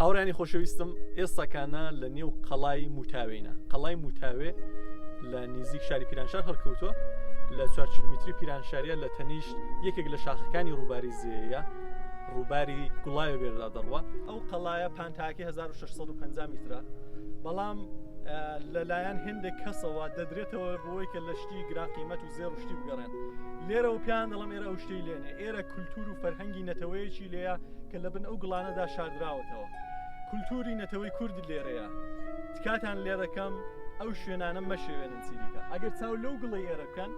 هاوڕانی خۆشەویستم ئێستاکانە لە نێو قەڵای موتاوێنە قەڵای موتاوێ لە نزیک شاری پیرانشار هەڵکەوتووە لە چوار کیلومتری پیرانشاریە لە تەنیشت یەکێک لە شاخەکانی ڕووباری زێە ڕووباری گوڵایە بێردا دەڕوە ئەو قەڵایە پانتاکی 1650 میترە بەڵام لەلایەن هندێک کەسەوە دەدرێتەوە بۆی کە لە شتی گراقیمەت و زێر شتی بگەڕێن لێرە و پیان دەڵم ئێرە ئەو شتی لێنێ ئێرە کولتور و فەرهەنگی نەتەوەیەکی لێە کە لە بن ئەو گڵانەدا شاردراوەتەوە کولتوری نەتەوەی کورد لێرەیە تکاتان لێ دەکەم ئەو شوێنانە مەشێوێنن چیدیکە ئەگەر چاو لەو گڵی ئێرە بکەن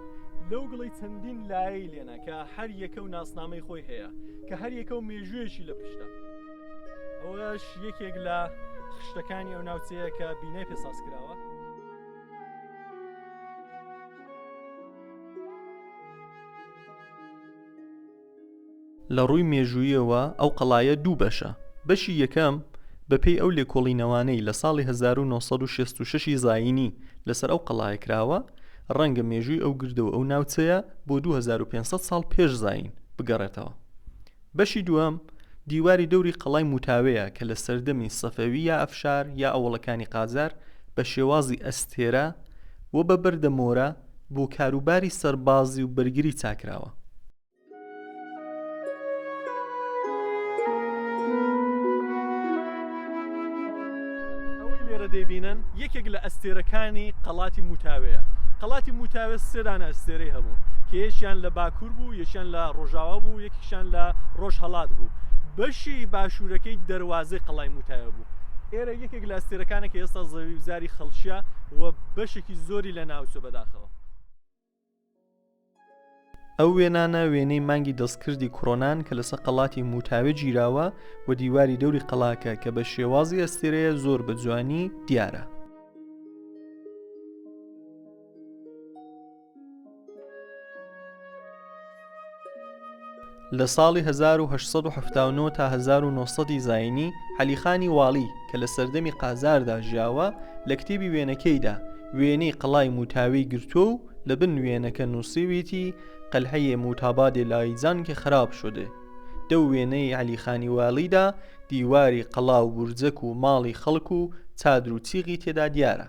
لەو گڵی چەندین لایەی لێنە کە هەر یەکە و ناسنامەی خۆی هەیە کە هەر یەکە و مێژوویەکی لە پشتە ئەوەش یەکێک لە خشتەکانی ئەو ناوچەیە کە بینای پێساز کراوە لە ڕووی مێژووییەوە ئەو قەڵایە دوو بەشە، بەشی یەکەم بە پێی ئەو لێکۆڵینەوانەی لە ساڵی هەزار و نۆ سەد و شەست و شەش ی زایینی لەسەر ئەو قەڵایە کراوە ڕەنگە مێژووی ئەو گردە و ئەو ناوچەیە بۆ دوو هەزار و پێنج سەد ساڵ پێش زایین بگەڕێتەوە بەشی دووەم دیواری دەوری قەڵای موتاوێیە کە لە سەردەمی سەفەوی یا ئەفشار یا ئەوڵەکانی قاجار بە شێوازی ئەستێرە و بە بەردە مۆرە بۆ کاروباری سەربازی و بەرگری چاکراوە. دەیبینن یەکێک لە ئەستێرەکانی قەڵاتی موتاوەیە قەڵاتی موتاوە سێدانە ئەستێرەی هەبوو کە یەکیان لە باکوور بوو یەکیان لە ڕۆژاوا بوو یەکیشان لە ڕۆژهڵات بوو بەشی باشوورەکەی دەواازەی قەڵای موتاوە بوو یەکێک لە ئەستێرەکانە کە ئێستا زەوی وزاری خەڵکیە و بەشێکی زۆری لە ناوچە بەداخەوە ئەو وێنانە وێنەی مانگی دەستکردی کڕۆنان کە لەسە قەڵاتی موتاوێ گیراوە و دیواری دەوری قەڵاکە کە بە شێوازی ئەستێرەیە زۆر بە جوانی دیارە لە ساڵی 1879 تا 1970 ی زاینی، عەلیخانی واڵی، کە لە سەردەمی قاجاردا ژیاوە، لە کتێبی وێنەکەیدا، وێنەی قەڵای موتاوی گرتووە و لە بن وێنەکە نووسیویەتی، قلعهی موتابادێ لایجان که خراب شده. دەو وێنەی عەلیخانی واڵیدا، دیواری قەڵا و بورجەک و ماڵی خەڵک و چادر و چیغی تێدا دیارە.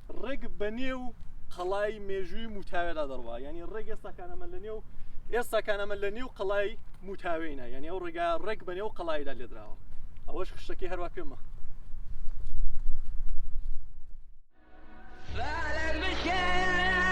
ڕێک بە نێو قەڵای مێژووی موتاوێدا دەڕوا ینی ڕێک ئێستاکانەمە لە نێو ئێستاکانەمە لە نێو قەڵای موتاوێنە یعنی ئەو ڕێگا ڕێک بە نێو قەڵایدا لێدراوە ئەوەش خشتەکەی هەروە پێمە فعلا مشي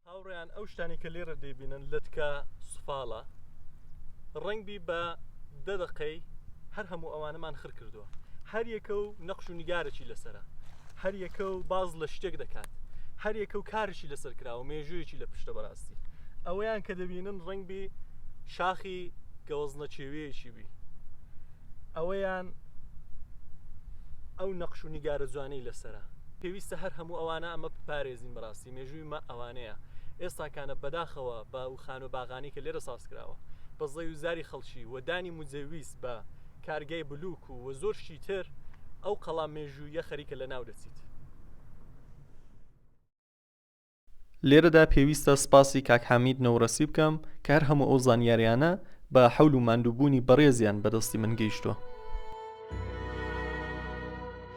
هاوڕێیان ئەو شتانی کە لێرە دەیبینن لەتکە سفاڵە ڕەنگبی بە دە دەقەی هەر هەموو ئەوانەمان خر کردووە هەر یەکە و نەخش و نیگارەی لەسرە هەر یەکە و باز لە شتێک دەکات هەر یەکە و کارشی لەسەر کراوە مێژوویەکی لە پشتە بەڕاستی ئەوەیان کە دەبینن ڕەنگبی شاخی گەوەزنە چێوەیەکی بی ئەوەیان ئەو نەخش و نیگارە جوانەی لەسرە پێویستە هەر هەموو ئەوانە ئەمە پارێزین بەڕاستی مێژووی ئێمە ئەوانەیە ئێستاکانە بەداخەوە بە و خانوە باغانی کە لێرە ساز کراوە بە زەوی و زاری خەڵکی و دانی مجەویست بە کارگەی بلوک و وە زۆر شتی تر ئەو قەڵا مێژوویە خەریکە لە ناو دەچیت. لێرەدا پێویستە سپاسی کاک حامید نەورەسی بکەم کە هەر هەموو ئەو زانیاریانە بە حەول و ماندووبوونی بەڕێزیان بەدەستی من گەیشتووە.